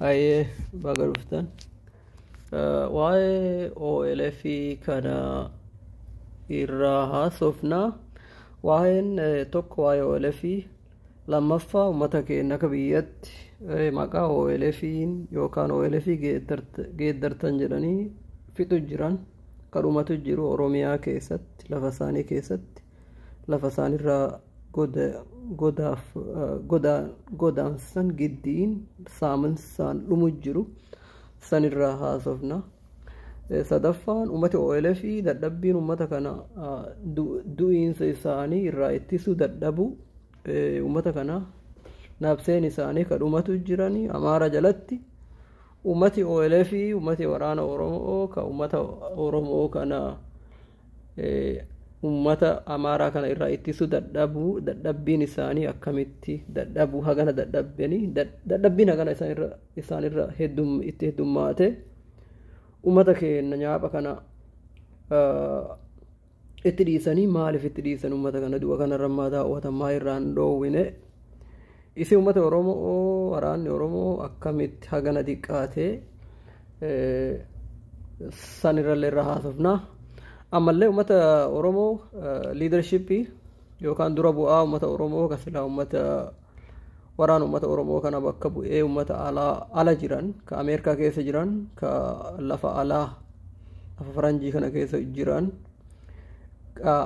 Hayyee baga dhuftan. Eh, Waa'ee OLF kana irraa haasofna. Waa'een eh, tokko waa'ee OLF lammaffaa uummata keenya akka biyyatti eh, maqaa OLFiin yookaan OLF geeddart- geeddartan jedhanii fixu jiran kadhumatu jiru Oromiyaa keessatti lafa isaanii keessatti lafa isaanirraa goda, godaaf goda, godaansan giddiin saaminsaan dhumu jiru sanirraa haasofna. Sadaffaan uummati OLA fi dadhabbiin uummata kana du'iinsa isaanii irraa ittisuu dadhabuu uummata kana nabseen isaanii kadhumatu jiranii amaara jalatti uummati OLA fi uummati waraana Oromoo ka uummata Oromoo kana ummata amaaraa kana irraa ittisuu dadhabuu dadhabbiin isaanii akkamitti dadhabuu hagana dadhabbanii dadhabbiin hagana isaanirra isaanirra heddum itti heddummaate ummata keenya nyaapha kana itti dhiisanii maaliif itti dhiisan ummata kana du'a kanarra mataa uwwatan maa irraan dhoowwine Isi ummata Oromoo waraanni Oromoo akkamitti hagana diqqaate sanirrallee irra haasofna. Ammallee ummata Oromoo liidarshippii yookaan dura bu'aa ummata Oromoo kan silaa ummata waraana ummata Oromoo kana bakka bu'ee ummata alaa ala jiran ka Ameerikaa keessa jiran ka lafa alaa lafa faranjii kana keessa jiran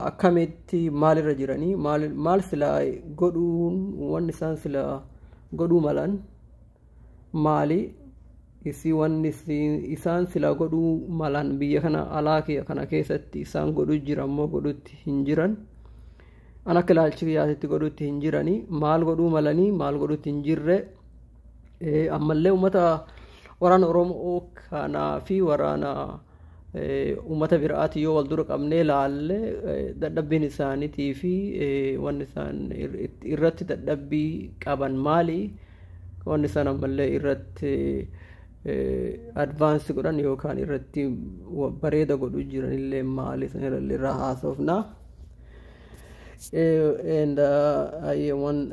akkamitti maalirra jiranii maal silaa godhuun wanni isaan silaa godhuu malan maali isii wanni isaan silaa godhuu malan biyya kana alaa kana keessatti isaan godhu jira immoo godhutti hin jiran an akka ilaalchi kiyyaatitti godhutti hin jiranii maal godhuu malanii maal godhutti hin jirre ammallee uummata waraana oromoo kanaa fi waraana Uummata biraatii yoo wal dura qabnee ilaalle dadhabbiin isaaniitii fi wanni isaan irratti dadhabbii qaban maali? Wanni isaan ammallee irratti advaansi godhan yookaan irratti bareeda godhu jiranillee maali? Sanirrallee irraa haasofna. And I want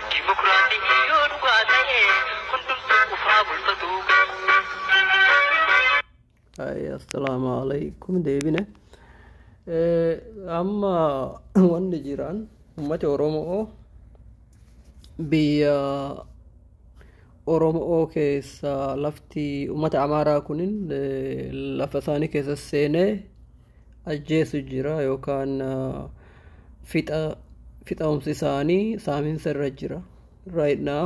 Dimokiraasiin yoo dhugaa ta'e hundumtuu qufaa bulfatuu qabu. Ay, assalaamu alaikum deebine. Eh, Amma wanni jiraan uummati Oromoo biyya Oromoo keessa lafti uummata Amaaraa kunin eh, lafa isaanii keessa seenee ajjeesu jira yookaan fixa fixaumsi isaanii saaminsa irra jira right now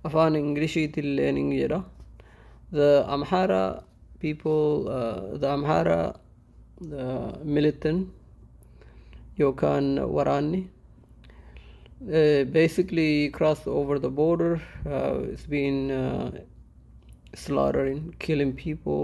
afaan inglishiitiin learning jedha the amhara people uh, the amhara uh, militant yookaan waraanni uh, basically crossed over the border uh, it's been uh, slaughtering killing people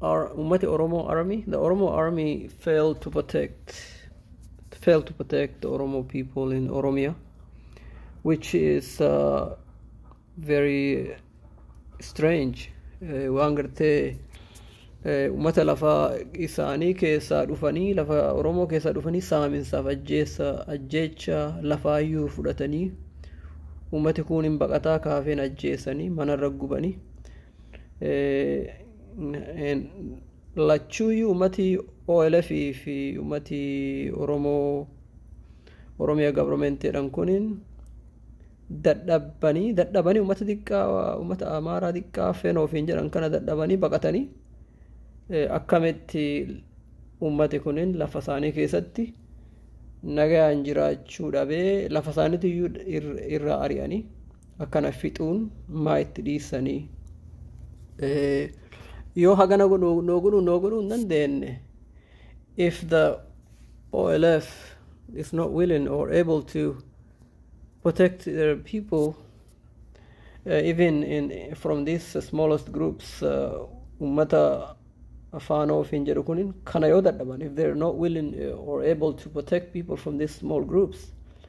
Our Ummati Oromo Army, the Oromo Army failed to protect, failed to protect the Oromo people in Oromia, which is uh, very strange. Eh, Waan gartee eh, uummata lafa isaanii keessaa dhufanii lafa Oromoo keessaa dhufanii saaminsaaf ajjeessa ajjeecha lafaayyuu fudhatanii uummati kun hin baqataa kaafeen ajjeessanii manarra gubanii lachuuyyuu ummatii OLF fi ummatii Oromoo Oromiyaa gabromenteedhan kuniin dadhabbanii dadhabanii ummata xiqqaa ummata amaaraa xiqqaa fenoo ofiin jedhan kana dadhabanii baqatanii akkamitti ummati kunin lafa isaanii keessatti nagayaan jiraachuu dhabee lafa isaaniitu iyyuu irraa ari'anii akkana fixuun maa itti dhiissanii yoo hagana godhu noo godhu noo godhu hin dandeenye if the OLF is not willing or able to protect their people uh, even in from these smallest groups ummata afaan ofiin jedhu kunin kana yoo dadhaban if they're not willing uh, or able to protect people from these small groups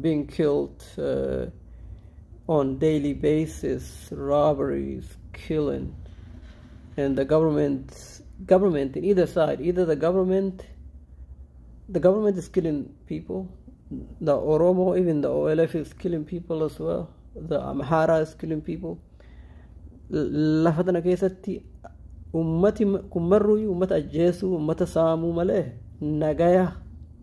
being killed uh, on daily basis, robberies, killing, and the government, government in either side, either the government, the government is killing people, the Oromo, even the OLF is killing people as well, the Amhara is killing people. Lafa tana keessatti ummati kun marruuyyuu ummata ajjeesuu, ummata saamuu malee nagaya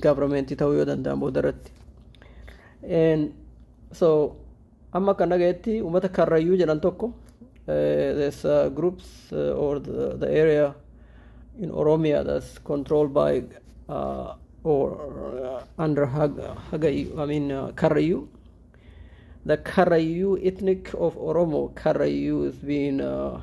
gavarmeentii ta'uu yoo danda'an booda irratti. So amma kan dhagayetti uummata karrayyuu jedhan tokko there's uh, groups uh, or the, the area in Oromia that's controlled by uh, or uh, under Hag, Hagayu, I mean uh, Karayu. The Karayu ethnic of Oromo, Karayu is being uh,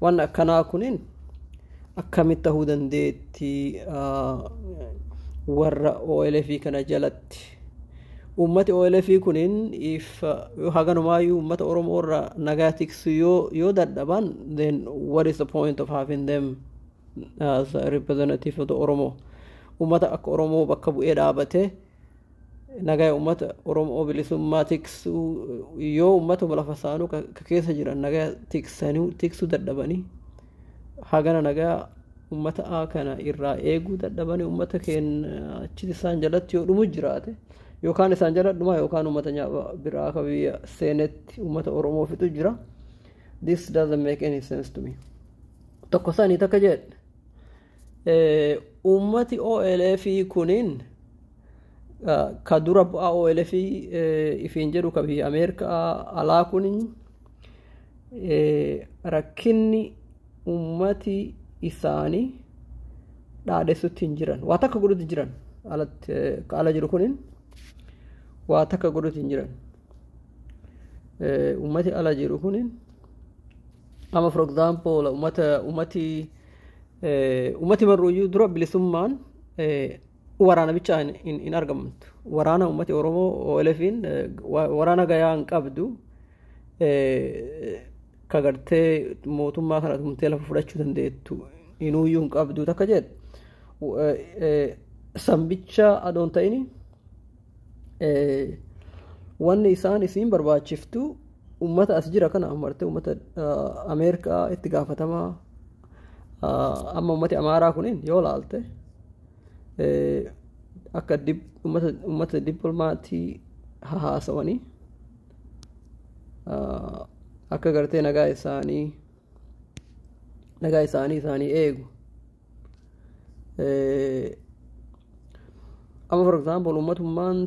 Waan akkanaa kunin akkamitti tahuu dandeetti warra OLF kana jalatti uummati OLF kunin if haganumaayyu uummata Oromoo irra nagaa tiksu yoo yoo dadhaban then what is the point of having them as a representative of the Oromo uummata akka Oromoo bakka bu'ee dhaabate Nagaya uummata Oromoo bilisummaa tiksuu yoo uummatuma lafa saanuu ka ka keessa jiran nagaya tiksanii tiksuu dadhabanii hagana nagaya uummata A kana irraa eeguu dadhabanii uummata keenya achitti isaan jalatti yoo dhumu jiraate yookaan isaan jala dhumaa yookaan uummata nyaaba biraa ka biyya seenetti uummata Oromoo fixu jira. This doesn't make any sense to me. Tokko sanii takka jedhe Uummati OLF kunin ka dura bu'aa OLF ifiin jedhu ka biyya Ameerikaa alaa kunin rakkinni uummati isaanii dhaadessutti hin jiran. Waa takka godhutti hin jiran. Alatti ka ala jiru kunin waa takka godhutti hin jiran. Uummati ala jiru kunin Amma for example umata umati umati marruyyuu dura bilisummaan waraana bichaa hin argamtu. Waraana ummati Oromoo OLFin waraana gayaa hin qabdu. Ka gartee mootummaa kana tumtee lafa fudhachuu dandeettu inuuyyuu hin qabdu takka jedhu. Sambicha adoon ta'ini wanni isaan isiin barbaachiftu ummata as jira kana amarte ummata ameerikaa itti gaafatamaa amma ummati amaaraa kunin yoo laalte akka ummata dippilmaatii hahaasawanii akka gartee nagaa isaanii nagaa isaanii isaanii eegu amma for example ummatummaan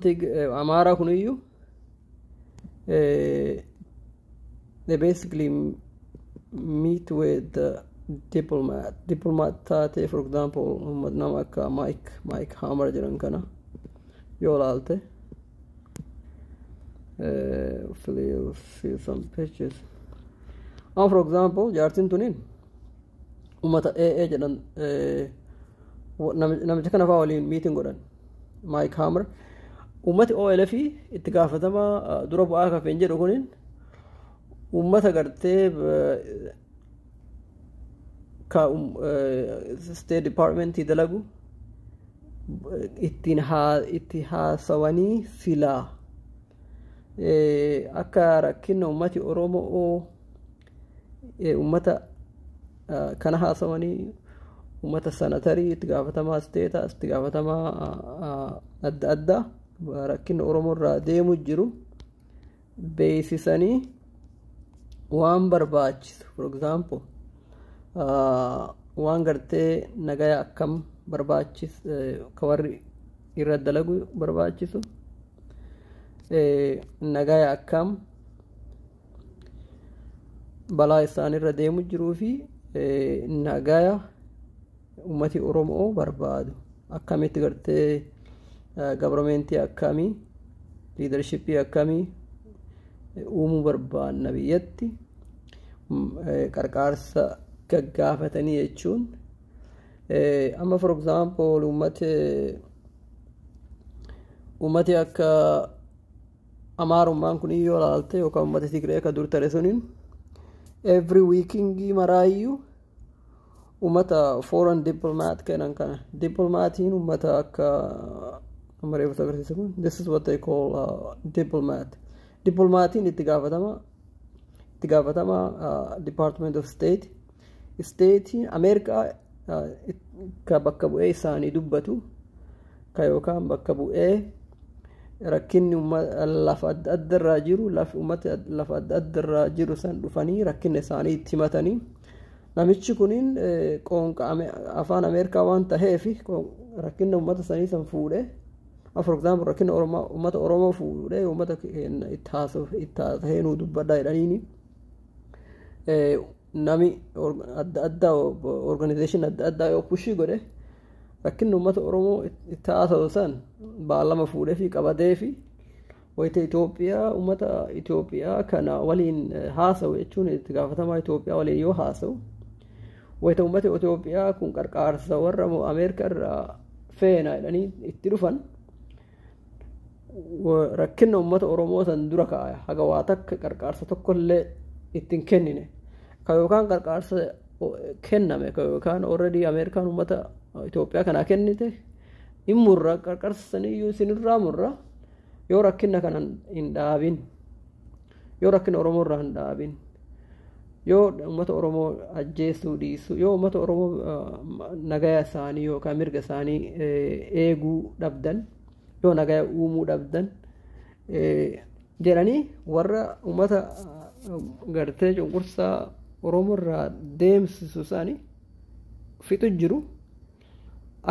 amaaraa kun iyyuu they basically meet with the diplomat diplomat taatee for example ummat nama akka mike mike hammer jedhan kana yoo laalte feel, feel some pictures. Now, for example, jaartiin tuniin ummata AA jedhan namicha kana fa'aa waliin miitiin godhan Maayik Haamar ummati OLF itti gaafatama dura bu'aa kafeen jedhu kunin ummata gartee ka State Department dalagu ittiin itti haasawanii silaa akka rakkina ummati Oromoo Uummata kana haasawanii uummata sanatarii itti gaafatamaa isteetaa itti gaafatamaa adda addaa rakkina Oromoo irraa deemu jiru beeksisanii waan barbaachisu for example waan gartee nagaya akkam barbaachis ka warri irra dalagu barbaachisu nagaya akkam balaa isaanirra deemu jiruu fi nagaya ummati oromoo barbaadu akkamitti gartee gabarmeentii akkamii liidarshippii akkamii uumuu barbaanna biyyatti qarqaarsa gaggaafatanii jechuun amma for example ummati ummati akka Amaarummaan kun yoo ilaalte yookaan uummata Tigree akka dur tare suniin every weekingii maraayyuu uummata foreign diplomat kennan kana diplomaatiin uummata akka amma reefu agarsiisa kun this is what they call uh, diplomat diplomaatiin itti gaafatama itti gaafatama uh, department of state isteetii ameerikaa ka bakka bu'ee isaanii dubbatu ka yookaan bakka bu'ee rakkinni lafa adda adda irraa jiru uummata lafa adda adda irraa jiru san dhufanii rakkina isaanii itti himatanii namichi kuniin qoonqa afaan ameerikaa waan taheef rakkina uummata sanii san fuudhee for example rakkina uummata oromoo fuudhee uummata keenya itti haasa'ee nuu dubbadhaa jedhaniini Nami adda addaa organization adda addaa yoo pushii godhe rakkinni uummata Oromoo itti haasa'u san baalama fuudhee fi qabadee fi wayita Itoophiyaa uummata Itoophiyaa kana waliin haasa'u jechuun itti gaafatamaa Itoophiyaa waliin yoo haasa'u wayita uummata Itoophiyaa kun qarqaarsa warra Ameerikaa irraa feena jedhanii itti dhufan rakkinna uummata Oromoo san dura kaa'e haga waa takka qarqaarsa tokkollee itti hin kennine ka yookaan qarqaarsa kenname ka yookaan already Ameerikaan uummata Itoophiyaa kanaa kennite hin murra qarqaarsa saniyyuu isinirraa murra yoo rakkinna kana hin dhaabin yoo rakkina Oromoo irraa hin dhaabin yoo uummata Oromoo ajjeesuu dhiisu yoo uummata Oromoo nagaya isaanii yookaan mirga isaanii eeguu dhabdan yoo nagaya uumuu dhabdan jedhanii warra uummata gartee cunqursaa Oromoo irraa deemsisu isaanii fixu jiru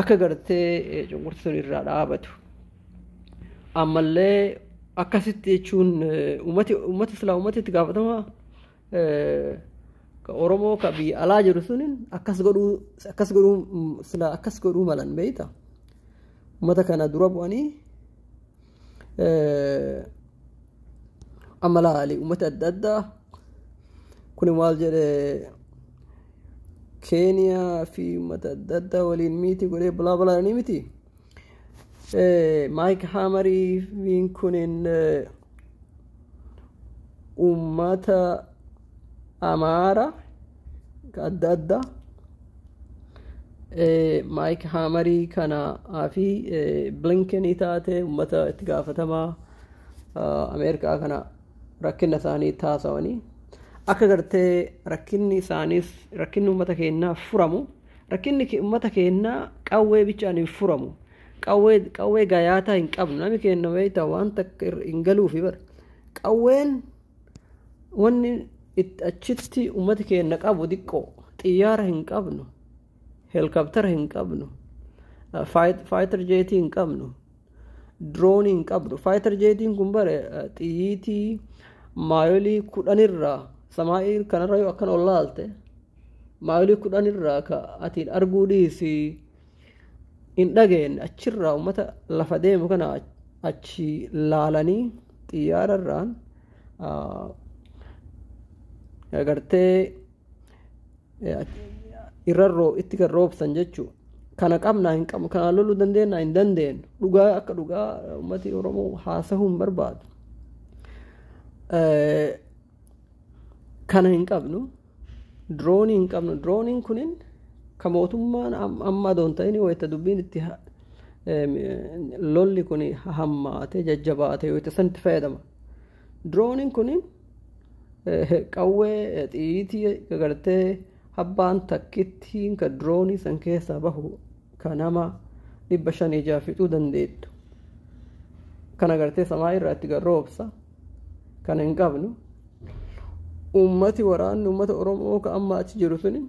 akka gartee cunqursuun irraa dhaabatu. Ammallee akkasitti jechuun uummati uummati silaa uummati itti gaafatamaa ka oromoo ka biyya alaa jiru sunin akkas godhuu akkas godhuu sila akkas godhuu malan beeyta ummata kana dura bu'anii amala ali ummata adda addaa kun maal jedhe keeniyaa fi ummata adda addaa waliin miiti godhee balaa balaa ni miti Maayik Haamariin kunin uummata Amaara adda addaa Maayik Haamarii kanaa fi Blinkenii taate uummata itti gaafatamaa Ameerikaa kana rakkina isaanii taasawanii akka gartee rakkinni isaaniis rakkinni uummata keenyaa furamu Rakkinni ke- ummata keennaa qawwee bichaan hin furamu. Qawwee qawwee gayaataa hin qabnu. Nami keenna beektaa waan takka irra hin galuufi bara. Qawween wanni itti achitti ummati keenna qabu diqqoo xiyyaara hin qabnu. Heelkaptara hin qabnu. eh, faayit- Faayitar jeetii hin qabnu. Diroonii hin qabnu. Faayitar jeetiin kun bare eh, xiyyiitii maayolii kudhanirraa samaa'ii kanarra yoo akkana ol laalte maayilii kudhan irraa ka atiin arguu dhiisi hin dhageenye achirraa uummata lafa deemu kana achi laalanii xiyyaara irraan agartee irra itti kan roobsan jechuu kana qabnaa hin qabnu kana loluu dandeenya hin dandeenyu dhugaa akka dhugaa uummati oromoo haasahuu hin barbaadu kana hin qabnu. Diroonii hin qabnu. Dirooniin kunin kan mootummaan amma adoon ta'in wayita dubbiin itti lolli kun hammaate jajjabaate wayita sanatti fayyadama. Dirooniin kunin qawwee xiyyiitii gartee abbaan takkittiin kan diroonii san keessaa bahu kan nama dhibba shan ijaa fixuu dandeettu. Kana gartee samaa irraa itti garroobsa. kana hin qabnu uummati waraanni uummata oromoo ka amma achi jiru suni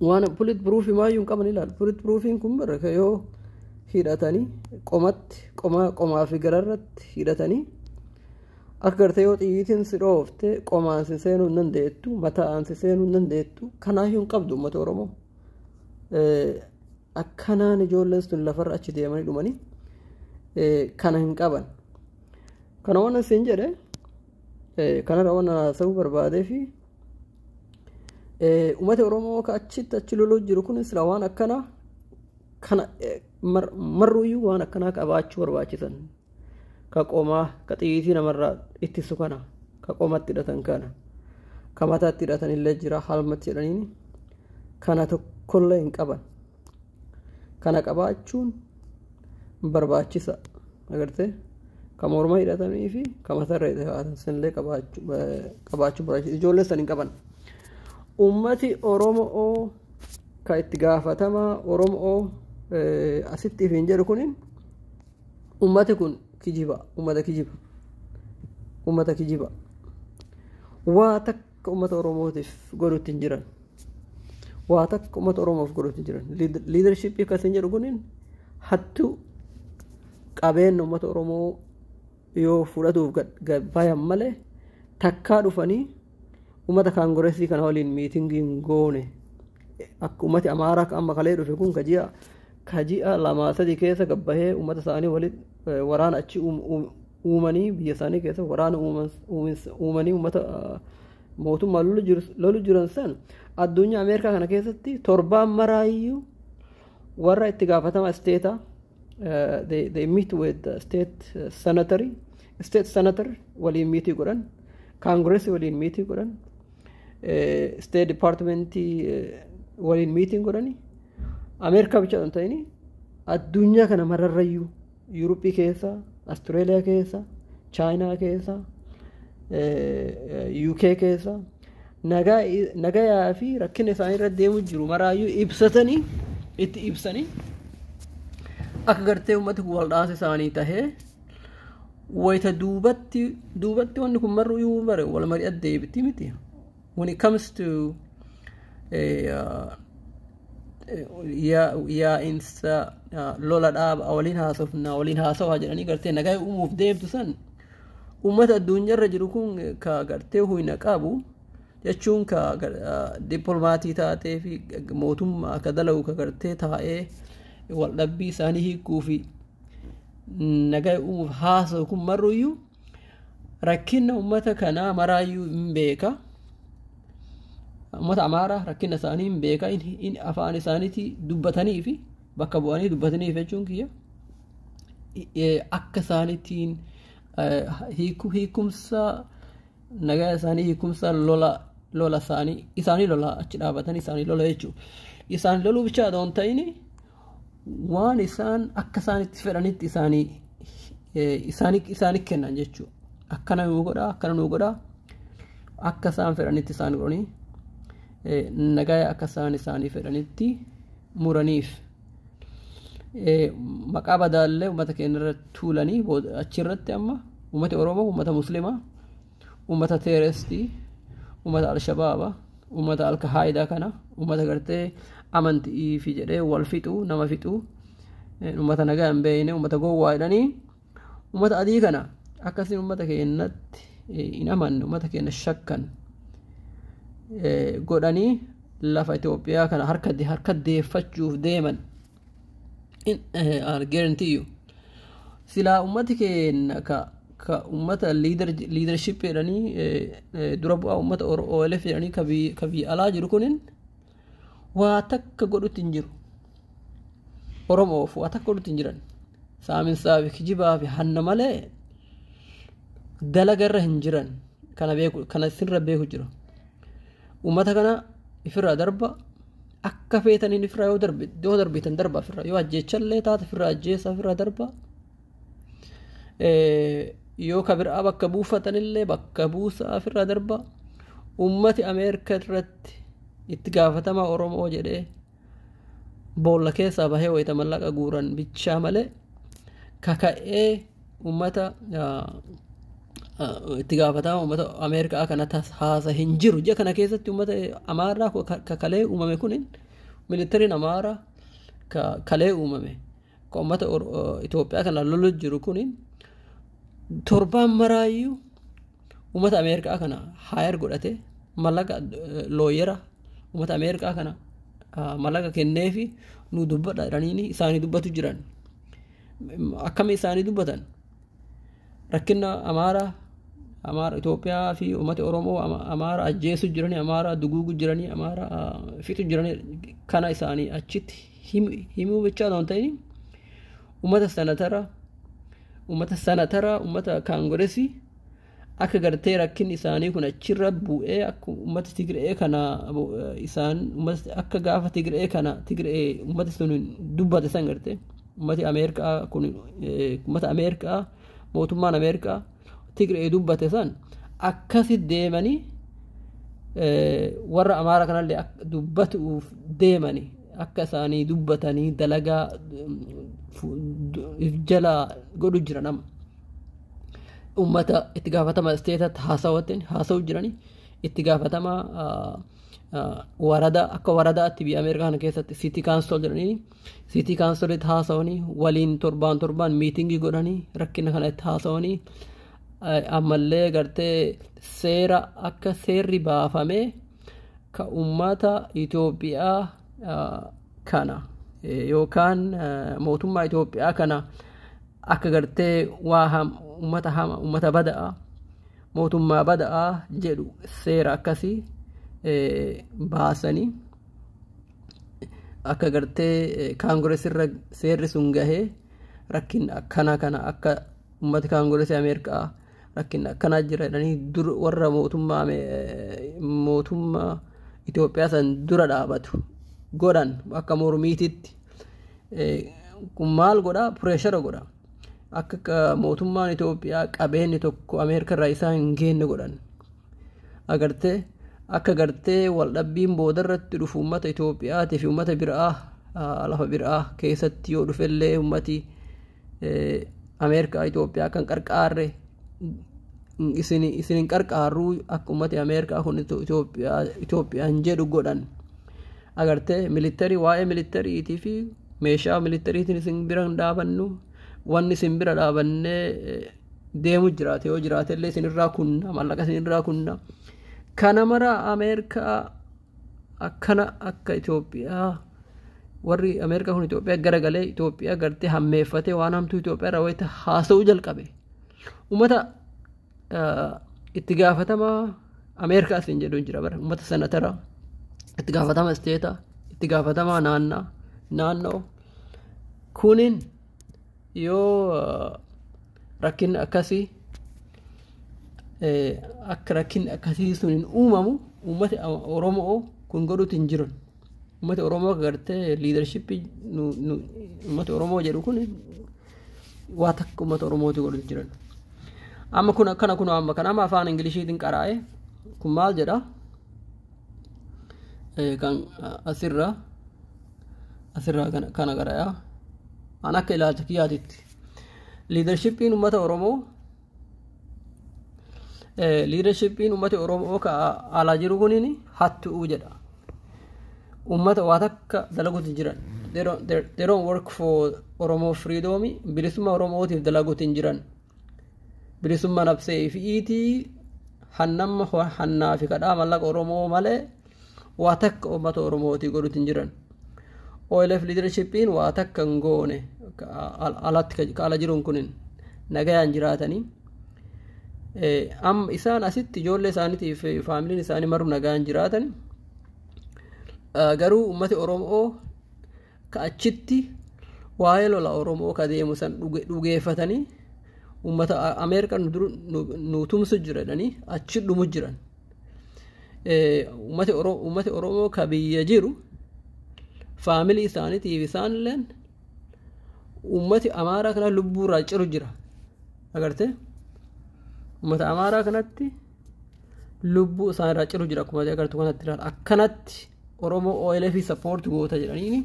waan pulit piruufii maayyuu hin qaban ilaal pulit piruufiin kun bara ka yoo hidhatanii qomatti qomaa qomaa fi gararratti hidhatanii akka gartee yoo xiyyiitiin si dhoofte qomaan si seenuu hin dandeettu mataan si seenuu hin dandeettu kanaayyuu hin qabdu uummata oromoo akkanaan ijoolleen sun lafarra achi deemanii dhumanii kana hin qaban Kana waan isin jedhe kanarra waan haasa'uu barbaadee fi uummata Oromoo akka achitti achi loluu jiru kun sila waan akkana kana marruuyyuu waan akkanaa qabaachuu barbaachisan ka qomaa ka xiyyiitii namarraa ittisu kana ka qomatti hidhatan kana ka mataatti hidhatan illee jira halmatti jedhaniin kana tokkollee hin qaban. kana qabaachuun barbaachisa agarte ka morma hidhatamii fi ka matarra hidhatan sanillee qabaachuu barbaachisa ijoollee san hin qaban ummati oromoo ka itti gaafatamaa oromoo asitti ifiin jedhu kunin ummati kun kijiba ummata kijiba ummata kijiba waa takka Uummata Oromootiif godhutti hin jiran. Waa takka uummata Oromoof godhutti hin jiran. Liidarshiippii akkasiin jedhu kuniin hattuu qabeenya uummata Oromoo yoo fudhatuuf bayan malee takkaa dhufanii uummata kaangoreesii kana waliin miitingii hin goone. Akka uummati Amaaraa akka amma kalee dhufe kun kaji'a kaji'a lamaa sadii keessa gabbahee uummata isaanii waliin waraana achi uumanii biyya isaanii keessa waraana uumanii uummata mootummaa lolu jiran san addunyaa ameerikaa kana keessatti torbaan maraayyuu warra itti gaafatama isteeta they meet with state senatory state senator waliin miitii godhan kaangireesii waliin miitii godhan state departmentii waliin miitii godhani ameerikaa bicha hin ta'ini addunyaa kana mararrayyuu Yuuroppii keessa, Australia keessa, China keessa, UK keessa nagayaa fi rakkina isaanii irra deemu jiru maraayyuu ibsatanii itti ibsanii akka gartee uummati kun waldhaansa isaanii tahee wayita duubatti duubatti wanni kun marru yoo bare wal mari'at deebiti miti. when it comes to eh, uh, yaa yaa'iinsa uh, lola dhaaba waliin haasofna waliin haasawaa jedhanii gartee nagaa uumuuf deemtu san uummata addunyaarra jiru kun ka gartee huyna qabu jechuun ka gar- uh, dippilomaatii taatee fi mootummaa akka dalagu ka gartee taa'ee waldhabbii isaanii hiikuu fi nagaa uumuuf haasa'u kun marruyyuu Rakkinna ummata kanaa maraayyuu hin beeka. Ummata Amaaraa rakkinna isaanii hin beeka. Inni afaan isaaniitii dubbatanii fi bakka bu'anii dubbataniif jechuun kiyya. Akka isaaniitiin hiikumsa nagaa isaanii hiikumsa lola lola isaanii isaanii lola achi dhaabatanii isaanii lola jechuudha. Isaan loluu bichaa adoo hin ta'in waan isaan akka isaanitti fedhanitti isaanii isaanii isaanii kennan jechuudha. Akkana nuu godhaa akkana nuu godhaa akka isaan fedhanitti isaan godhanii nagaa akka isaan isaanii fedhanitti muraniif maqaa badaallee uummata keenya irratti tuulanii achirratti amma uummata Oromoo uummata Musliimaa Uummata teerestii, uummata alshabaaba, uummata alkahaayidaa kana uummata gartee amantii fi jedhee wal fixu nama fixu uummata nagaa hin beekne uummata gowwaa jedhanii uummata adii kana akkasiin uummata keenyatti hin amanne uummata keenya shakkan godhanii lafa Itoophiyaa kana harka deeffachuuf deeman. in uh, guarantee you silaa ummati keenya ka ka ummata leader leadership jedhanii eh, eh, dura bu'aa ummata Oro- OLF jedhanii ka biyya ka biyya alaa jiru kunin waa takka godhutti hin jiru Oromoof waa takka godhutti hin jiran saaminsaa fi kijibaa fi hanna malee dalagarra hin jiran kana beeku kana sirra beeku jira ummata kana ifirraa darba Akka feetaniin ifirraa yoo darbe yoo darbitan darba ifirraa yoo ajjeechallee taate ifirraa ajjeessa ifirraa darba. Yoo ka biraa bakka buufatanillee bakka buusaa ifirraa darba. Uummati Ameerika irratti itti gaafatamaa Oromoo jedhee boolla keessaa bahee wayita mallaqa guuran bichaa malee kaka'ee Uummata itti gaafatama uummata Ameerikaa kana haasa hin jiru. Ija kana keessatti uummata Amaaraa ka kalee uumame kun militariin Amaaraa ka kalee uumame ka uummata Itoophiyaa kana lolu jiru kun torbaan maraayyuu uummata Ameerikaa kana haayar godhate mallaqa looyera uummata Ameerikaa kana mallaqa kenneefi nu dubbadha jedhanii isaanii dubbatu jiran. akkami isaanii dubbatan rakkinna amaara amaara Itoophiyaa fi uummata Oromoo ama- amaara ajjeesu jiranii amaara duguugu jiranii amaara ah, fixu jiranii kana isaanii achitti him- himuu bichaa osoo hin ta'in uummata sanatara uummata sanatara uummata kaangoresii Akka gartee rakkinni isaanii kun achirra bu'ee akka uummata Tigree kana isaan akka gaafa Tigree kana Tigree uummati sun dubbate san gartee uummati Ameerikaa kun uummata Ameerikaa mootummaan Ameerikaa Tigree dubbate san akkasi deemanii warra Amaara kanallee dubbatuuf deemanii akka isaanii dubbatanii dalagaa jalaa godhu jira nama. uummata itti gaafatama isteetatti haasawattiin haasawuu jiranii itti gaafatama warada akka waradaatti biyya Ameerikaa kana keessatti siitii kaansol jedhanii siitii kaansolitti haasawanii waliin torbaan torbaan miitingii godhanii rakkina kana itti haasawanii ammallee gartee seera akka seerri baafamee ka uummata Itoophiyaa kana yookaan mootummaa Itoophiyaa kana akka gartee waa ham ummata hama ummata bada'a mootummaa bada'a jedhu seera akkasii baasanii akka gartee kaangirees irra seerri sun gahee rakkin akkana kana akka ummati kaangireesii ameerikaa rakkinni akkanaa jira jedhanii dur warra mootummaa mootummaa Itoophiyaa san dura dhaabatu godhan akka mormiititti kun maal godha pireeshara godha akka mootummaan Itoophiyaa qabeenyi tokko Ameerikaa irraa isaa hin geenne godhan. Agartee akka gartee waldhabbiin boodarratti dhufu uummata Itoophiyaatii fi uummata biraa lafa biraa keessatti yoo dhufellee uummati Ameerikaa Itoophiyaa kan qarqaarre isin isin hin qarqaarruu akka uummati Ameerikaa kun Itoophiyaa Itoophiyaan jedhu godhan agartee militarii waa'ee militariitii fi meeshaa militariitiin isin bira hin dhaabannu wanni isin bira dhaabannee deemu jiraate yoo jiraate illee isinirraa kunna mallaqa isinirraa kunna kana mara ameerikaa akkana akka Itoophiyaa warri ameerikaa kun Itoophiyaa gara galee Itoophiyaa gartee hammeeffatee waan hamtuu Itoophiyaa irraa wayita haasa'uu jalqabe ummata itti gaafatamaa ameerikaa isin jedhu jira bara ummata senatara itti gaafatama isteeta itti gaafatamaa naannaa naannoo kunin yoo rakkinni akkasii akka rakkinni akkasii sun hin uumamu uummati oromoo kun godhuutti hin jiran uummati oromoo gartee liidarshippii uummati oromoo jedhu kun waa takka uummata oromooti godhuutti jiran amma kun akkana kun amma kan amma afaan ingiliishiitiin qaraa'e kun maal jedha kan asirra asirraa kana- kana garayaa an akka ilaalcha kiyyaatitti liidarshipiin ummata oromoo eh, liidarshipiin ummata oromoo ka alaa jiru kunin hattu'uu jedha ummata waa takka dalaguutti jiran they don't, they're- they don't work for oromoo freedom bilisummaa oromootiif dalaguutti hin jiran bilisumma nabsee ifi'iitii hannamma hannaa fi kadhaa mallaqa Oromoo malee waa takka uummata Oromootii godhuutti hin jiran. OLF liidarshippiin waa takka hin goone alatti ka ala jiruun kunin nagayaan jiraatanii. Amma isaan asitti ijoollee isaaniitii fi faamiliin isaanii maruu nagaan jiraatan garuu uummati Oromoo ka achitti waa'ee lola oromoo ka deemu san dhuge- dhugeeffatanii uummata A- ameerikaa nu duru- nu- nu tumsu jira jedhanii achi dhumu jiran Eh, uummati Oro- uummati oromoo ka biyya jiru faamilii isaaniitiif isaanilleen uummati amaaraa kana lubbuurraa ciru jira agarte uummata amaaraa kanatti lubbuu isaan irraa ciru jira akkuma agartu kanatti ilaala akkanatti oromoo OLF support goota jedhanii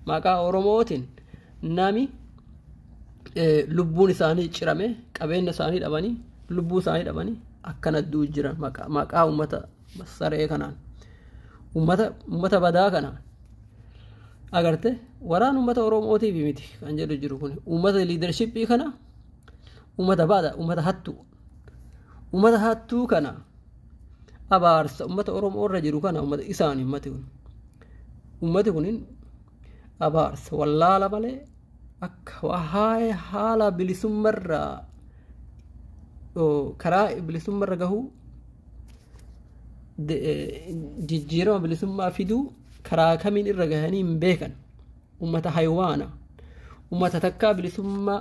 maqaa oromootiin nami lubbuun isaanii cirame qabeenya isaanii dhabanii lubbuu isaanii dhabanii akkana du'u jira maqaa uummata saree kanaan uummata badaa kanaan agarte waraan uummata oromootiif miti kan jedhu jiru kun uummata liidarshippii kana uummata baada uummata hattu Ummata hattuu kana abaarsa ummata Oromoo irra jiru kana ummata isaani ummati kun. Ummati kun abaarsa wallaala malee akka waa'ee haala bilisummarraa karaa bilisummarra gahuu jijjiirama bilisummaa fiduu karaa kamiin irra gahanii hin beekan. ummata haywaana ummata takkaa bilisummaa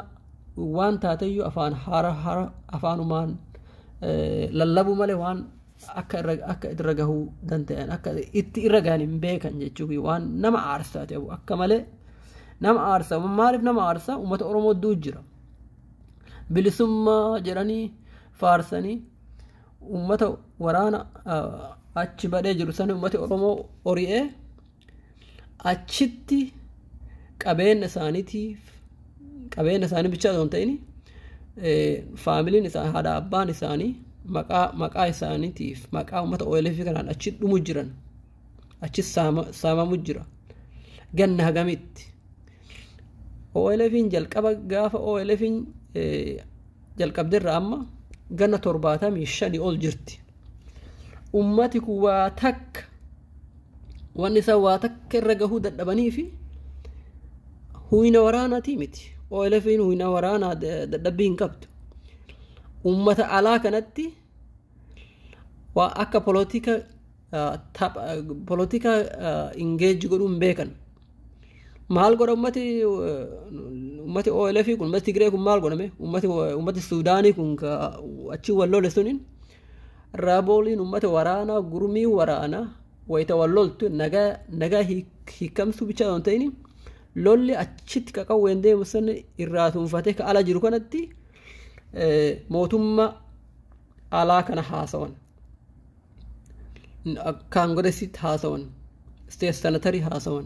waan taateyyuu afaan hara hara afaanumaan lallabu malee waan akka irra akka irra gahuu danda'an akka itti irra gahan hin beekan jechuun waan nama aarsaa ta'u akka malee nama aarsaa maaliif nama aarsaa ummata oromoo duu jira bilisummaa jedhanii faarsanii ummata waraana achi badhee jiru sani ummati oromoo ori'ee achitti qabeenya isaaniitiif qabeenya isaanii bichaa osoo hin ta'in faamiliin isaa haadha abbaan isaanii maqaa maqaa isaaniitiif maqaa uummata OLF kanaan achi dhumu jiran achi saamamu jira ganna hagamitti OLFin jalqaba gaafa OLFin jalqabderra amma ganna torbaatamii shanii ol jirti ummati kun waa takka wanni isaan waa takka irra gahuu dadhabanii fi huyna waraanaatii miti OLFin huyna waraanaa dadhabbii hin qabdu uummata alaa kanatti waa akka polotika polotika ingeeji godhuu hin beekan maal godha ummati ummati OLF kun ummati Tigree kun maal godhame ummati ummati Suudaanii kun achi wal lole suniin Raabooliin uummata waraanaa gurmii waraanaa wayita wal loltu nagaa nagaa hiik- hiikamsuu bichaa osoo hin ta'in lolli achitti qaqawween deemu san irraa tunfatee ka ala jiru kanatti eh, mootummaa alaa kana haasawan kaangiresitti haasawan isteet sanatarii haasawan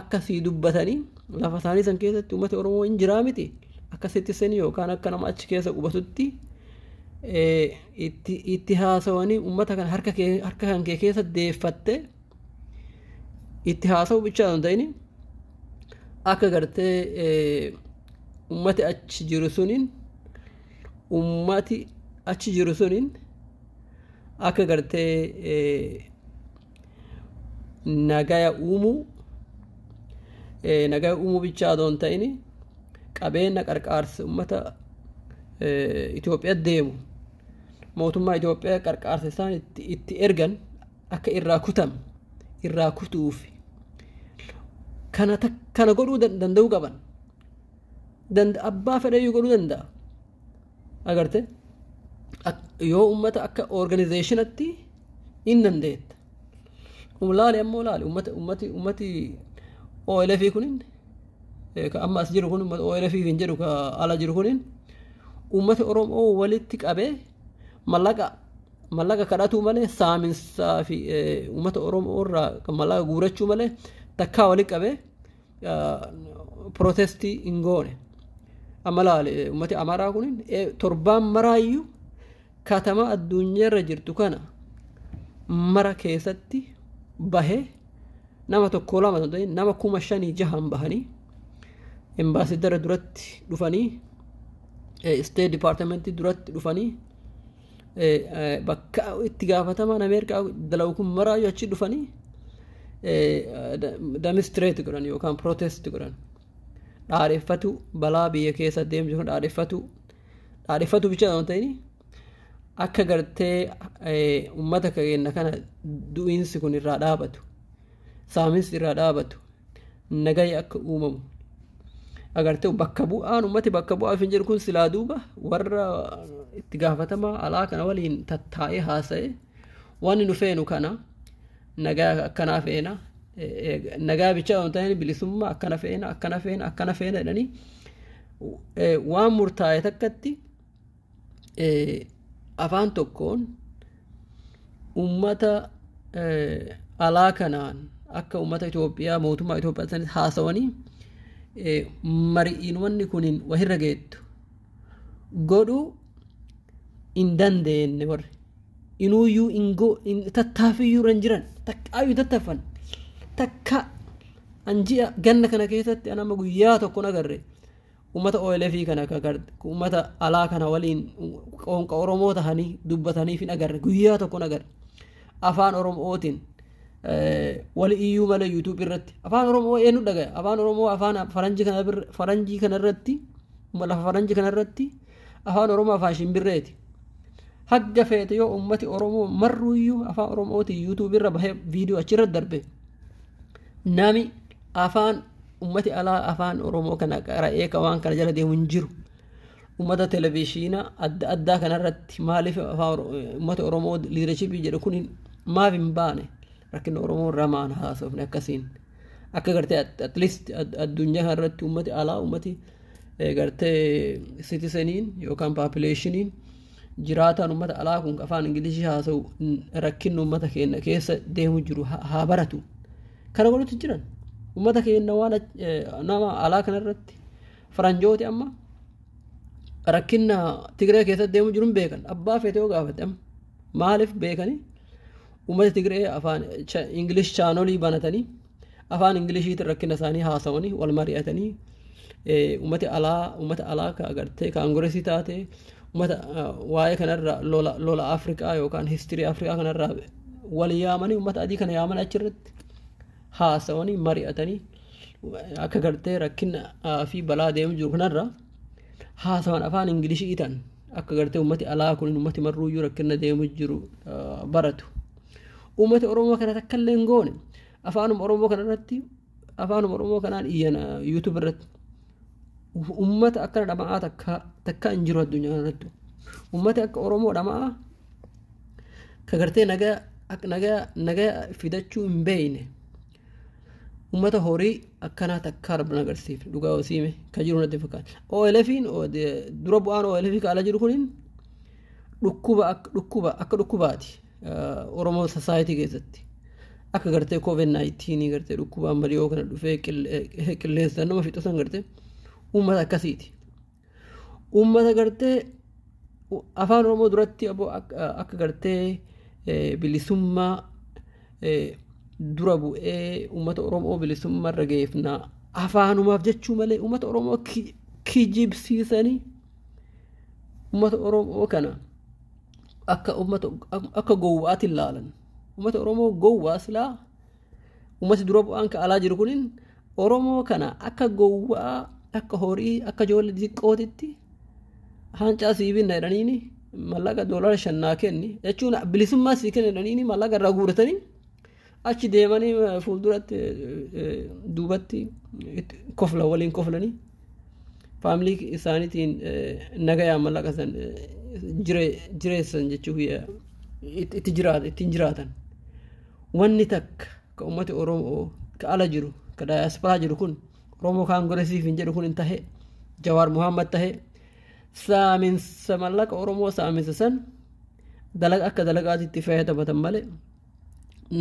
akkasii dubbatanii lafa isaanii san keessatti uummati Oromoo hin jiraa miti akka sittisanii yookaan akka nama achi keessa qubatutti itti haasawanii uummata kan harka kan kee keessa deeffattee itti haasa'u bichaa hin ta'in akka gartee uummati achi jiru suniin uummati achi jiru suniin akka gartee nagaya uumuu eh, nagaya uumuu bichaa adoo hin ta'in qabeenya qarqaarsa uummata eh, Itoophiyaa deemu mootummaa Itoophiyaa qarqaarsa isaan itti, itti ergan akka irraa kutan irraa kutuuf kana tak- kana godhuu dan- danda'uu qaban Danda- abbaa fedhayyuu godhuu danda'a agarte Ak- yoo uummata akka organizeeshinatti hin dandeetta. Laali ammoo laali ummati ummati ummati OLF kunin ka amma as jiru kun ummata OLF hin jedhu ka ala jiru kunin ummati Oromoo walitti qabee mallaqa mallaqa kadhatuu malee saaminsaa fi ummata Oromoo irraa mallaqa guurachuu malee takkaa walitti qabee pirootestii hin goone. Amma laale uummati Amaaraa kun torbaan maraayyuu katama addunyaarra jirtu kana mara keessatti bahee nama tokko lama ta'e nama kuma shanii jahan bahanii embaasiidara duratti dhufanii isteet dipaartimentii duratti dhufanii bakka itti gaafatamaan Ameerikaa dalagu kun maraayyuu achi dhufanii damistireeti godhan yookaan pirootesti godhan. Dhaadheffatu balaa biyya keessa deemu jiru dhaadheffatu dhaadheffatu bicha waan ta'in akka gartee uummata keenya kana du'iinsi kun irraa dhaabatu. saaminsi irraa dhaabatu nagaya akka uumamu agartee bakka bu'aan ummati bakka bu'aa hin jiru kun silaa duuba warra itti gaafatamaa alaa kana waliin tattaa'ee haasa'e waan nu feenu kana nagaa akkanaa feena nagaa bichaa waan ta'een bilisummaa akkana feena akkana feena akkana feena jedhanii waan murtaa'e takkatti afaan tokkoon uummata alaa kanaan akka uummata Itoophiyaa mootummaa Itoophiyaa sanis haasawanii mari'iin wanni kun wahirra geettu godhuu hin dandeenye warri inuuyyuu ingoo tattaafiyyuu irra hin jiran takkaayyuu tattaffan takka an ji'a ganna kana keessatti an amma guyyaa tokko nagarre ummata OLF kana ka gar- ummata alaa kana waliin qoonqa Oromoo tahanii dubbataniif hin agarre guyyaa tokko hin agarre afaan Oromootiin eh, wali iyyuu malee YouTube irratti afaan Oromoo eenyu dhagaya afaan Oromoo afaan faranjii kana bir- faranjii kana irratti lafa faranjii kana irratti afaan Oromoo afaan shimbirreeti. hagga feete yoo ummati oromoo marruuyyuu afaan oromootiin yuutuubii irra bahee viidiyoo achirra darbe nami afaan Ummati alaa afaan Oromoo kana qara'ee ka waan kana jala deemu hin jiru. Ummata televizhiina adda addaa kanarratti maaliif ummata Oromoo liidarshipii jedhu kun maaf hin baane rakkina Oromoo irraa maan haasofne akkasiin. Akka gartee at least addunyaa kanarratti ummati alaa ummati gartee sitiseniin yookaan paapileeshiniin jiraataan ummata alaa kun afaan Ingilishii haasa'u rakkinni ummata keenya keessa deemu jiru haa baratu. Kana godhutti jiran uummata keenya waan nama alaa kanarratti faranjooti amma rakkina Tigree keessatti deemu jiru hin beekan. Abbaa feetee yoo gaafate amma maaliif beekanii uummata Tigree afaan Ingilish chaanolii banatanii afaan Ingilishiitiin rakkina isaanii haasawanii wal mari'atanii Uummati alaa uummata alaa ka agartee kaangoresii taate uummata waa'ee kanarra lola lola Afrikaa yookaan histirii Afrikaa kanarraa wal yaamanii uummata adii kana yaamanii achirratti haasawanii mari'atanii akka gartee rakkina fi balaa deemu jiru kanarra haasawan afaan ingilishii ta'an akka gartee uummati alaa kun uummati marruuyyuu rakkina deemu jiru baratu. Uummati Oromoo kana takka illee hin goone afaanuma Oromoo kanarratti afaanuma oromoo kanaan iyyan yuutuub irratti ummata akkana dhama'aa takka takka hin jiru addunyaa irratti ummati akka oromoo dhama'aa ka gartee nagaa ak- nagaa nagaa fidachuu hin beeyne ummata horii akkanaa takkaa rabbin agarsiif dhugaa wasiime ka jiru natti fakkaata OLFiin o- de- dura bu'aan OLF ka ala jiru kunin dhukkuba ak- dhukkuba akka dhukkubaati Oromoo Society keessatti akka gartee covid 19 gartee dhukkuba amma dhiyoo kana dhufee qilleensa nama fixu san gartee uummata akkasiiti. Uummata gartee afaan Oromoo duratti aboo akka gartee bilisummaa dura bu'ee uummata Oromoo bilisummaa irra geeffnaa afaanumaaf jechuu malee uummata Oromoo kijibsiisanii uummata Oromoo kana. akka ummata akka gowwaati laalan ummata oromoo gowwaa silaa ummati dura bu'aan ka alaa jiru kunin oromoo kana akka gowwaa akka horii akka ijoollee xiqqootitti haancaa sii binna jedhaniini mallaqa doolara shannaa kenni jechuun bilisummaa sii kenna jedhaniini mallaqa irraa guuratanii Achi deemanii fuulduratti duubatti kofla waliin koflanii faamilii isaaniitiin nagayaan mallaqa san jireessan jechuuf itti jiraatan ittiin jiraatan. Wanni takka ka uummati Oromoo ka ala jiru ka daayaasparaa jiru kun Oromoo kaangoresiif hin jedhu kun hin tahe Jawaar Muhammad tahe saaminsa mallaqa Oromoo saaminsa san dalaga akka dalagaatti itti fayyadamatan malee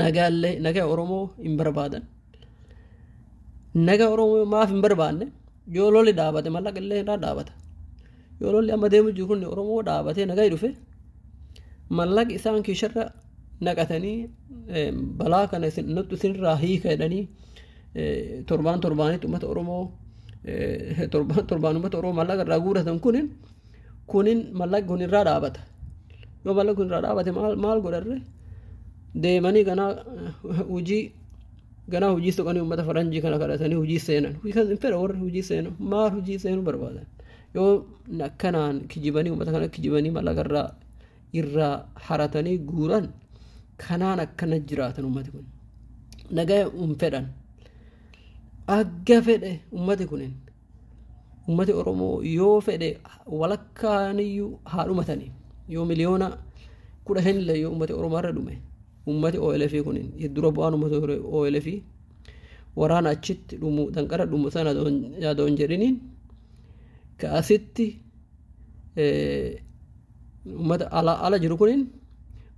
nagaallee naga oromoo hin barbaadan naga oromoo maaf hin barbaanne yoo lolli dhaabate mallaqa illee irraa dhaabata yoo lolli amma deemu jiru kun oromoo dhaabatee nagaa dhufe mallaqa isaan kiisharra naqatanii eh, balaa kana isin- nutti isinirraa hiika jedhanii eh, torbaan torbaanitti uummata oromoo eh, torbaan torbaan uummata oromoo mallaqa irraa guuratan kun kunin mallaqni kun irraa dhaabata yoo mallaqni kun irraa dhaabate maal maal godharre deemanii ganaa hojii ganaa hojii soqanii uummata faranjii kana kadhatanii hojii seenan hin fedha warri hojii seenu maal hojii seenu barbaadan yoo akkanaan kijibanii uummata kana kijibanii mallaqa irraa irraa haratanii guuran kanaan akkana jiraatan uummati kun nagaya hin fedhan agga fedhe uummati kunin Uummati Oromoo yoo fedhe walakkaaniyyuu haa dhumatanii yoo miliyoona kudha shanillee yoo uummati Oromoo irra dhume uummati OLF kun dura bu'aan uummata ture OLF waraana achitti dhumu danqara dhumu sana yaadoo hin jedhiniin ka asitti uummata ala ala jiru kunin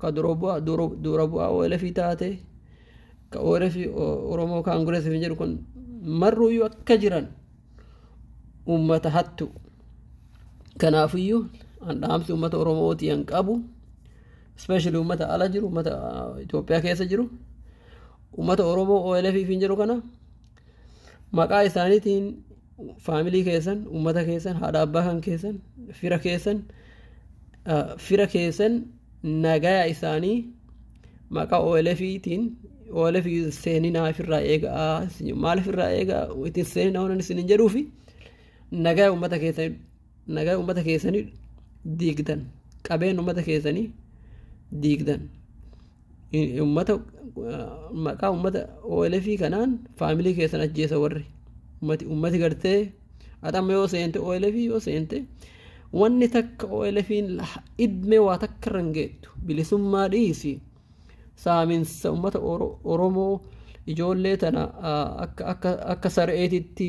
ka dura bu'aa dura bu'aa OLF taate ka ORF Oromoo Kaangirees hin jedhu kun marruuyyuu akka jiran uummata hattu. Kanaafiyyuu an dhaamsi uummata Oromooti an qabu ispeeshali uummata ala jiru uummata Itoophiyaa keessa jiru uummata Oromoo OLF hin jedhu kana maqaa isaaniitiin faamilii keessan uummata keessan haadha abbaa kan keessan fira keessan fira keessan nagaya isaanii maqaa OLFiitiin OLF seeninaa ofirraa eegaa maal ofirraa eegaa ittiin seeninaa waan isin hin jedhuufi nagaya uummata keessanii nagaya uummata keessanii diigdan qabeen uummata keessanii diigdan Ummata maqaa ummata OLF kanaan faamilii keessan ajjeesa warri. Ummati ummati gartee ati amma yoo seente OLF yoo seente wanni takka OLFiin idmee waa takka irra hin geettu bilisummaa dhiisi saaminsa ummata Oromoo ijoollee tana akka akka akka sar'eetitti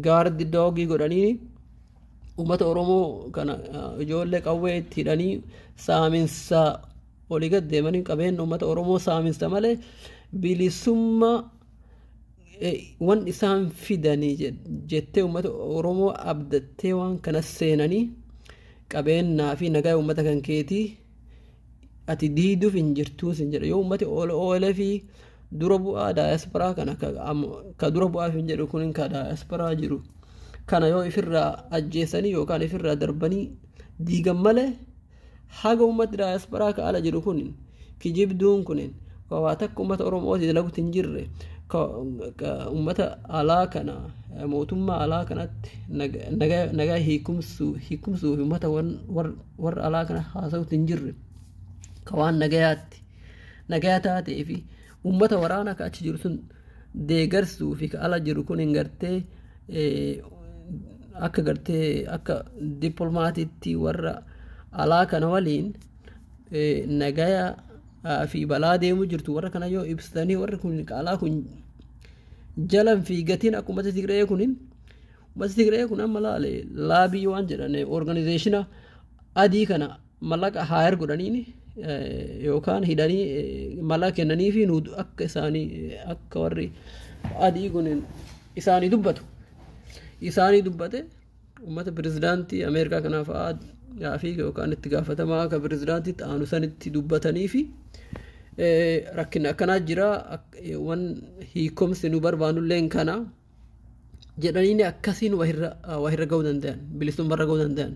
gaardi doogii godhanii uummata Oromoo kana ijoollee qawwee itti hidhanii saaminsa olii gad deemanii qabeenya uummata Oromoo saaminsa malee bilisummaa wan isaan fidanii jettee uummata Oromoo abdattee waan kanas seenanii qabeenyaa fi nagaa uummata kan keetii ati diiduf hin jirtuu sin jedha yoo ummati OLF dura bu'aa daayasporaa kana ka, am- ka dura bu'aaf hin jedhu kun ka daayasporaa jiru kana yoo ifirraa ajjeesanii yookaan ifirraa darbanii diigan malee haga ummati daayasporaa ka ala jiru kun kijibduun kunin ka waa takka ummata Oromootii dalagutti hin jirre ka ka ummata alaa kana eh, mootummaa alaa kanatti naga- nagaa nagaa hiikumsuu hiikumsuu fi ummata wan- war- warra alaa kana haasa'utti hin jirre ka waan nagayaatti nagaya taatee fi ummata waraana ka achi jiru sun deegarsuu fi ka ala jiru kun hin gartee eh, akka gartee akka dippilmaatiitti warra alaa kana waliin eh, nagaya fi balaa deemu jirtu warra kana yoo ibsitanii warri kun qaalaa kun jalan fi gatiin akka ummata Tigree kunin ummata Tigree kun amma laale laabii waan jedhan organizeeshina adii kana mallaqa haayar godhaniini yookaan hidhanii mallaqa kennanii fi nu akka isaanii akka warri adii kunin isaanii dubbatu isaanii dubbate Uummata pirezidaantii Ameerikaa kanaa fa'aa gaafii yookaan itti gaafatamaa akka pirezidaantiitti aanu sanitti dubbatanii fi rakkinni akkanaa jira waan hiikomsi nu barbaannullee kana jedhanii akkasiin wahirra ga'uu danda'an bilisummarra ga'uu danda'an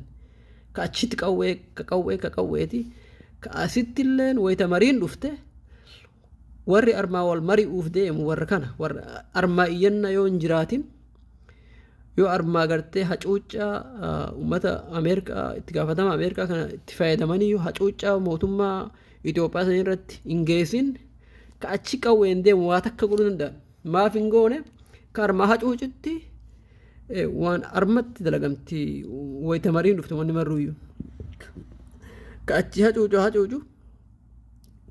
ka achitti qawwee ka qawwee ka qawweeti ka asitti illee wayita mariin dhufte warri armaa wal mari'uuf deemu warra kana warra armaa iyyanna yoo hin jiraatin. yoo armaa gartee hacuuccaa uummata ameerikaa itti gaafatama ameerikaa kana itti fayyadamanii yoo hacuuccaa mootummaa Itoophiyaa sana irratti hin geessin ka achi qawween deemu waa takka godhuu danda'an maaf hin goone ka armaa hacuucitti waan armatti dalagamti wayita mariin dhufte wanni marruuyyu ka achi hacuucu hacuucu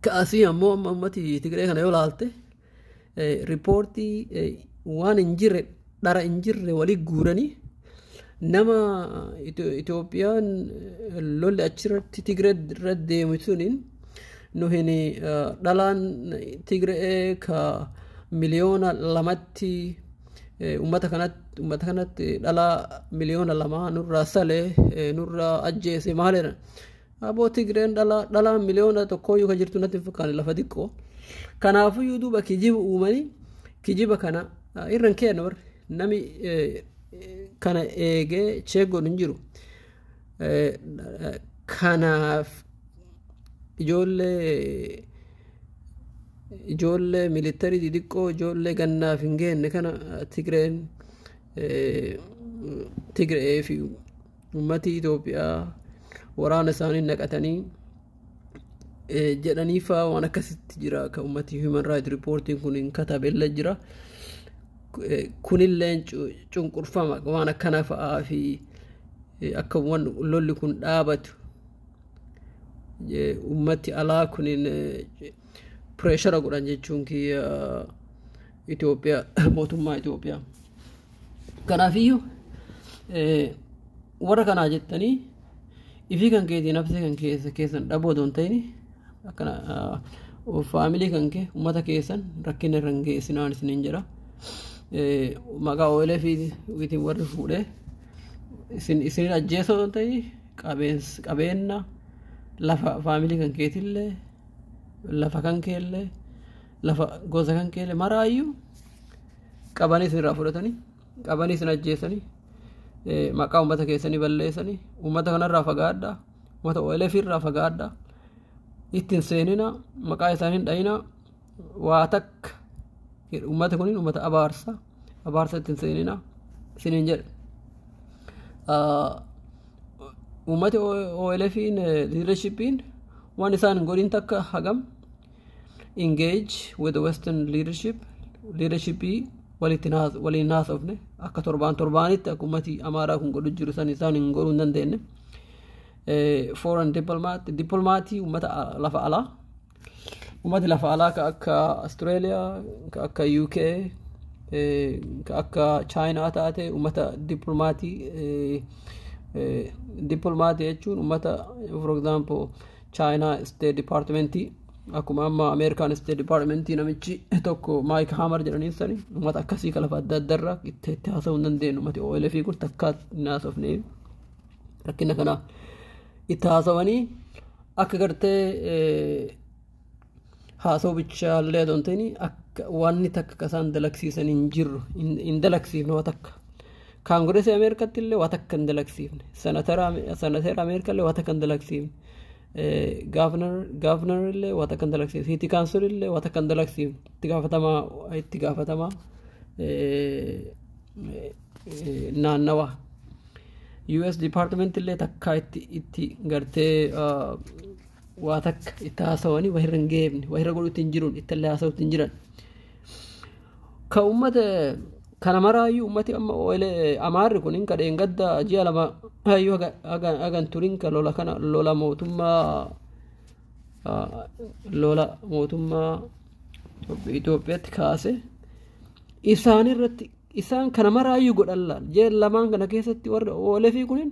ka asii ammoo amma ummati Tigree kana yoo laalte riippoortii waan hin jirre dhara hin jirre walii guuranii nama Itoophiyaan lolli achirratti Tigree irra deemu suniin nu hin dhalaan Tigree ka miliyoona lamatti uummata kanatti uummata kanatti dhalaa miliyoona lamaa nurraa salee nurraa ajjeese maaleera Aboo Tigreen dhalaa dhalaa miliyoona tokkooyyuu kan jirtu natti hin fakkaanne lafa xiqqoo. Kanaafuyyuu duuba kijiba uumanii kijiba kana ah, irra hin keenna warri nami eh, kana eegee cheeggoon hin jiru. Eh, eh, Kanaaf ijoollee ijoollee militarii xixiqqoo ijoollee gannaaf hin geenne kana eh, Tigreen eh, Tigree fi Ummati Itoophiyaa waraana isaanii naqatanii eh, jedhanii faa waan akkasitti jira kan ummati human right reportiin kun hin katabella jira Eh, kunilleen cu- cunqurfama waan akkana fa'aa fi eh, akka waan lolli kun dhaabatu eh, ummati alaa kunin eh, pireeshara godhan jechuun kiyya Itoophiyaa mootummaa Itoophiyaa. Kanaafiyyuu warra kanaa jettanii ifii kan keetiin nafsee kan keessa keessan dhaboo doon ta'in akkana faamilii kan kee uummata keessan rakkina irra hin geessinaan isiniin jedha. Maqaa oolee fi witiin warri fuudhee isin ajjeesoo doon ta'in qabeenna lafa faamilii kan keetillee lafa kan keellee lafa gosa kan keele maraayyuu qabanii isin irraa fudhatanii qabanii isin ajjeesanii eh, maqaa uummata keessanii balleessanii uummata kanarraa fagaadhaa uummata OLF irraa fagaadhaa ittiin seenina maqaa isaanii hin dhayina waa takka uummata kuniin uummata abaarsa abaarsa ittiin seenina isiniin jedhe Ah, uummati OLFiin liidarshippiin waan isaan hin godhin takka hagam engage with the western leadership leadership walitti naas- waliin haasofne akka torbaan torbaanitti akka ummati amaaraa kun godhu jiru san isaan hin godhuu hin dandeenye Eh, foreign diplomat diplomaatii ummata a- lafa alaa ummati lafa alaa ka akka australia ka akka uk eh, ka akka china taate ummata diplomaatii eh, eh, diplomaatii jechuun ummata for example chaayinaa isteet dipaartimentii akkuma amma ameerikaan isteet dipaartimentii namichi tokko maayik haamar jedhanii sani uummata akkasii kalafa adda adda irraa itti itti haasa'uu hin dandeenyu uummati OLF kun takkaa hin haasofne rakkina kana itti haasawanii akka gartee haasoo bichaa illee adoo hin ta'in akka waanni takka akka isaan dalagsiisan hin jirru hin- hin dalagsiifne waa takka. Kaangireesii Ameerikaatti illee waa takka hin dalagsiifne. Senatara Ame- Senateera Ameerikaa illee waa takka hin dalagsiifne. Eh, Gaavnar Gaavnar illee waa takka hin dalagsiifne. Siiti Kaansel illee waa takka hin dalagsiifne. Itti gaafatamaa itti gaafatamaa eh, eh, eh, naannawaa. US Department illee takkaa itti itti gartee ah, waa takka itti haasawanii wahirra hin geebne wahirra godhutti hin jirun ittallee haasawutti hin jiran ka ummata kana maraayyuu ummati amma oile amaarri kunin ka dheengadda ji'a lama hayyuu haga- haga- hagan turin ka lola kana lola mootummaa ah, lola mootummaa Itoophiyaatti kaase isaan irratti isaan kana maraayyuu godhan laal jeen lamaan kana keessatti warri oolefii kunin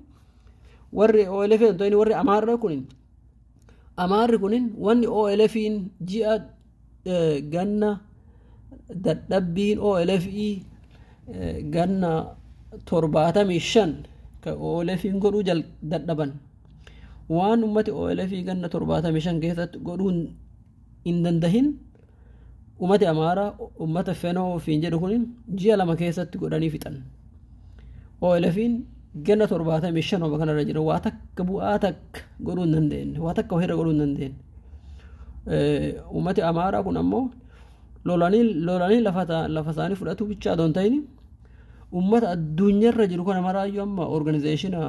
warri OLF ta'in warri Amaarra kunin Amaarri kunin wanni OLFiin ji'a ganna dadhabbiin OLFii ganna torbaatamii shan ka OLFiin godhuu jal dadhaban waan ummati OLFii ganna torbaatamii shan keessatti godhuun hin dandahin umati amaaraa ummata fenoo ofiin jedhu kun ji'a lama keessatti godhanii fixan OLFin ganna torbaatamii shan homa kanarra jira waa takka bu'aa takka godhuu hin dandeenye waa takka ofirra godhuu hin dandeenye ummati amaaraa kun ammoo lolanii lolanii lafa ta- lafa isaanii fudhatuu bichaa adoo hin ta'in ummata addunyaarra jiru kana maraayyuu amma organizeeshina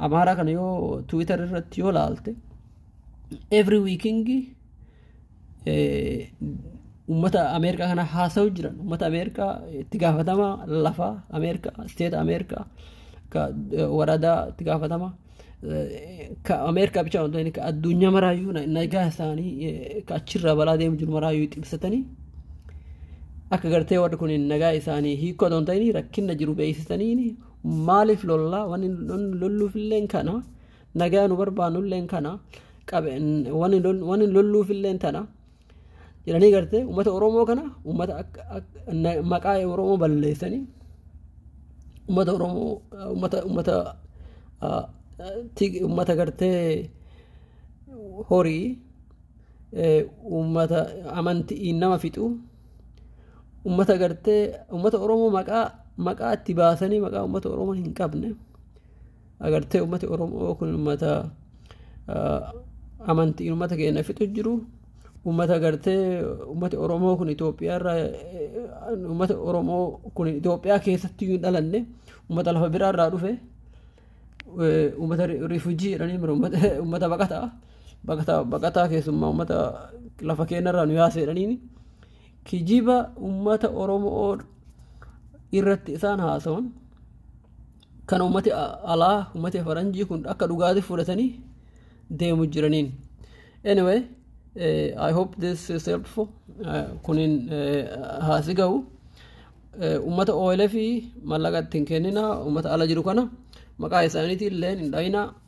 amaaraa kana yoo tiwiitar irratti yoo laalte every weeking ummata ameerikaa kana haasa'u jiran ummata ameerikaa itti gaafatama lafa ameerikaa isteeta ameerikaa ka waradaa itti gaafatama ka ameerikaa bicha waan ta'eef ka addunyaa maraayyuu nagaa isaanii ka achirraa balaa deemu jiru maraayyuu xibsatanii akka gartee warri kun nagaa isaanii hiikoo ta'an ta'anii rakkina jiru beeksisanii maaliif lollaa wanni lolluuf illee kana Nagaa nu barbaannu illeen kana wani lolluuf illeen tana jedhanii gartee uummata Oromoo kana uummata maqaa Oromoo balleessanii uummata Oromoo uummata uummata uummata gartee horii uummata amantii nama fixu uummata gartee uummata Oromoo maqaa maqaa itti baasanii maqaa uummata Oromoo hin qabne. agartee ummati oromoo kun ummata amantiin ummata keenya fixu jiru ummata agartee ummati oromoo kun Itoophiyaa irraa ummata oromoo kun Itoophiyaa keessatti hin dhalanne ummata lafa biraa irraa dhufe ummata rifujii jedhanii ummata baqataa baqataa baqataa keessummaa ummata lafa keenya irraa nu yaase jedhaniini kijiba ummata oromoo irratti isaan haasawan Kana ummati alaa ummati faranjii kun akka dhugaati fudhatanii deemu jiraniin. Anyway, uh, I hope this is helpful. Uh, kunin uh, haasi ga'u. Uh, ummata OLF mallaqa ittiin kennina ummata ala jiru kana maqaa isaaniitiin illee hin dhayina